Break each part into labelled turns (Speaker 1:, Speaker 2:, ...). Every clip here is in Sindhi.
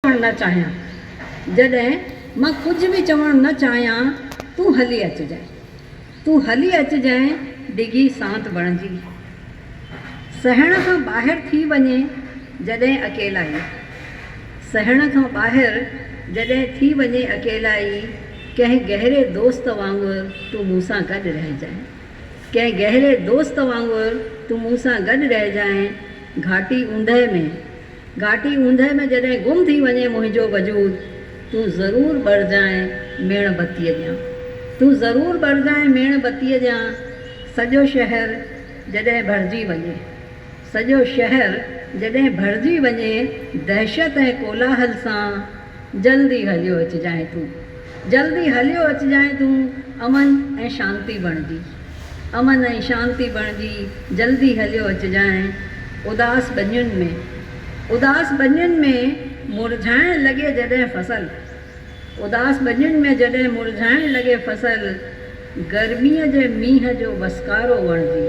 Speaker 1: چوڻ نه چاهيان جڏهن مان ڪجهه به چوڻ نه چاهيان تون هلي اچجانء تون هلي اچجانء ڊگهي سانت بڻجي سهڻ کان ٻاهر ٿي وڃي جڏهن اڪيلائي سهڻ کان ٻاهر جڏهن ٿي وڃي اڪيلائي ڪنهن گهري دوست وانگر تون مون سان گڏ رهجانء ڪنهن گهري دوست وانگر تون مون سان گڏ رهجانء گهاٽي اوندهه ۾. گهاٽي اوندهه ۾ جڏهن گم ٿي وڃي منهنجو وجود، تون ضرور ٻرجانء ميڻ بتيء ڄان. تون ضرور ٻرجانء ميڻ بتيء ڄان. سڄو شهر جڏهن ڀرجي وڃي. سڄو شهر جڏهن ڀرجي وڃي دهشت ۽ ڪولاهل سان. جلدي هليو اچجانء تون. جلدي هليو اچجانء تون امن ۽ شانتي بڻجي. امن ۽ شانتي بڻجي جلدي هليو اچجانء اداس ٻنين ۾. اداس ٻنين ۾ مرجهائڻ لڳي جڏهن فصل. اداس ٻنين ۾ جڏهن مرجهائڻ لڳي فصل گرميء جي مينهن جو وسڪارو بڻجي.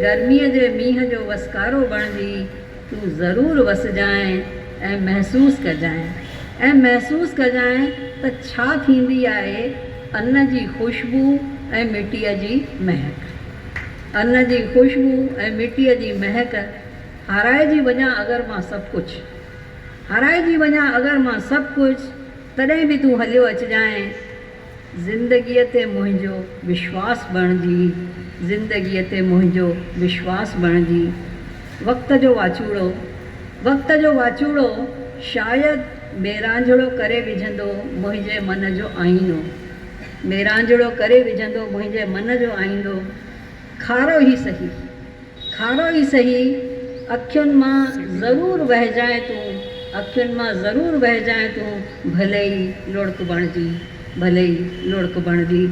Speaker 1: گرميء جي مينهن جو وسڪارو بڻجي. تون ضرور وسجانء ۽ محسوس ڪجانء ۽ محسوس ڪجانء ته ڇا ٿيندي آهي ان جي خوشبو ۽ مٽيء جي مهڪ. ان جي خوشبو ۽ مٽيء جي مهڪ هارائجي وڃان اگر مان سڀ ڪجهه. هارائجي وڃان اگر مان سڀ ڪجهه تڏهن به تون هليو اچجانء زندگيء تي منهنجو وشواس بڻجي زندگيء تي منهنجو وشواس بڻجي وقت جو واچوڙو وقت جو واچوڙو شايد ميرانجهڙو ڪري وجهندو منهنجي من جو آئينو ميرانجهڙو ڪري وجهندو منهنجي من جو آئينو کارو ئي سهي. کارو ئي سهي، اکين مان ضرور وهجانء تون، اکين مان ضرور وهجانء تون، ڀلي ئي لڙڪ بڻجي، ڀلي ئي لڙڪ بڻجي.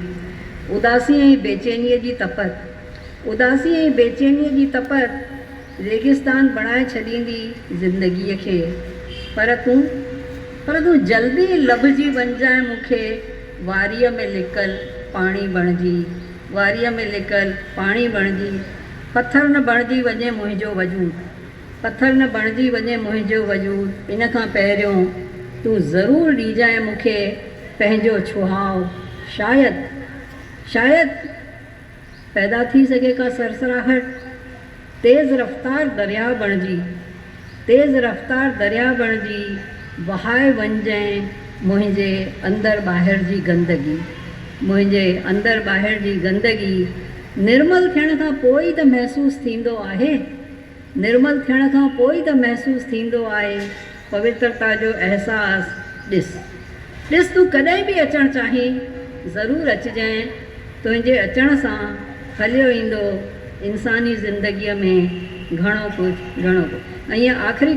Speaker 1: اداسيء ۽ بيچينيء جي تپت، اداسيء ۽ بيچينيء جي تپت، ريگستان بڻائي ڇڏيندي زندگيء کي. پر تون، پر تون جلدي لڀجي وڃجانء مون کي، واريء ۾ لڪل پاڻي بڻجي، واريء ۾ لڪل پاڻي بڻجي پٿر نه بڻجي وڃي منهنجو وجود پٿر نه بڻجي وڃي منهنجو وجود ان کان پهريون تون ضرور ڏيجانء مون کي پنهنجو ڇهاء شايد شايد پيدا ٿي سگهي ڪا سرسراهٽ تيز رفتار درياء بڻجي، تيز رفتار درياء بڻجي، وهائي وڃجئين منهنجي اندر ٻاهر جي گندگي، منهنجي اندر ٻاهر جي گندگي، نرمل ٿيڻ کان پوء ئي ته محسوس ٿيندو آهي، نرمل ٿيڻ کان پوء ئي ته محسوس ٿيندو آهي، پوترتا جو احساس ڏس. ڏس تون ڪڏهن به اچڻ چاهين، ضرور اچجئين. تنهنجي اچڻ سان کليو ايندو انساني زندگيء ۾ گهڻو ڪجهه، گهڻو ڪجهه. ۽ آخري.